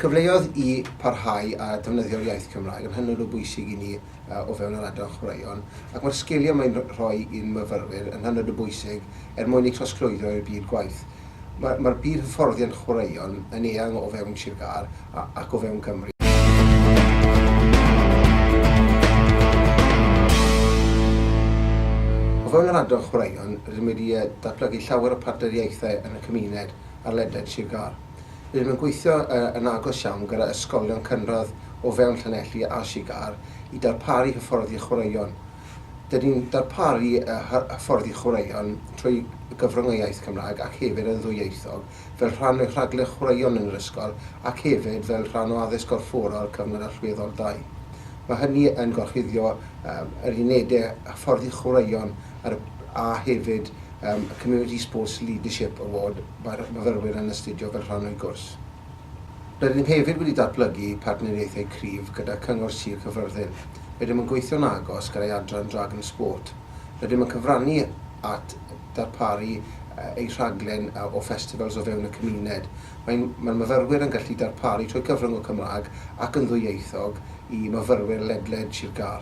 cyfleodd i parhau a defnyddio'r iaith Cymraeg yn hynod o bwysig i ni uh, o fewn yr adran chwaraeon, ac mae'r sgiliau mae'n rhoi i'n myfyrwyr yn hynod o bwysig er mwyn eu trosglwyddo i'r byd gwaith. Mae mae byd hyfforddiant chwaraeon yn eang o fewn Sir Gâr a, ac o fewn Cymru. O fewn yr adran chwaraeon, rydym wedi datblygu llawer o partneriaethau yn y cymuned ar ledled Sir Gâr. Rydym yn gweithio yn agos iawn gyda ysgolion cynradd o fewn Llanelli a Sir Gâr i darparu hyfforddi chwaraeon Dyn ni'n darparu hyfforddi chwaraeon trwy gyfrwng y iaith Gymraeg ac hefyd yn ddwyieithog fel rhan o'i rhaglen chwaraeon yn yr ysgol ac hefyd fel rhan o Addysg Gorfforol Cyfnod Allweddol ii. Mae hynny yn gorchuddio yr unedau hyfforddi chwaraeon a hefyd y Community Sports Leadership Award mae'r myfyrwyr yn astudio fel rhan o'u gwrs. Rydyn ni hefyd wedi datblygu partneriaethau cryf gyda Cyngor Sir Caerfyrddin. Rydym yn gweithio'n agos gyda'i adran Dragon Sport. Rydym yn cyfrannu at ddarparu eu rhaglen o festivals o fewn y cymuned. Mae'n Mae'r myfyrwyr yn gallu darparu trwy gyfrwng y Cymraeg ac yn ddwyieithog i myfyrwyr ledled Sir Gâr.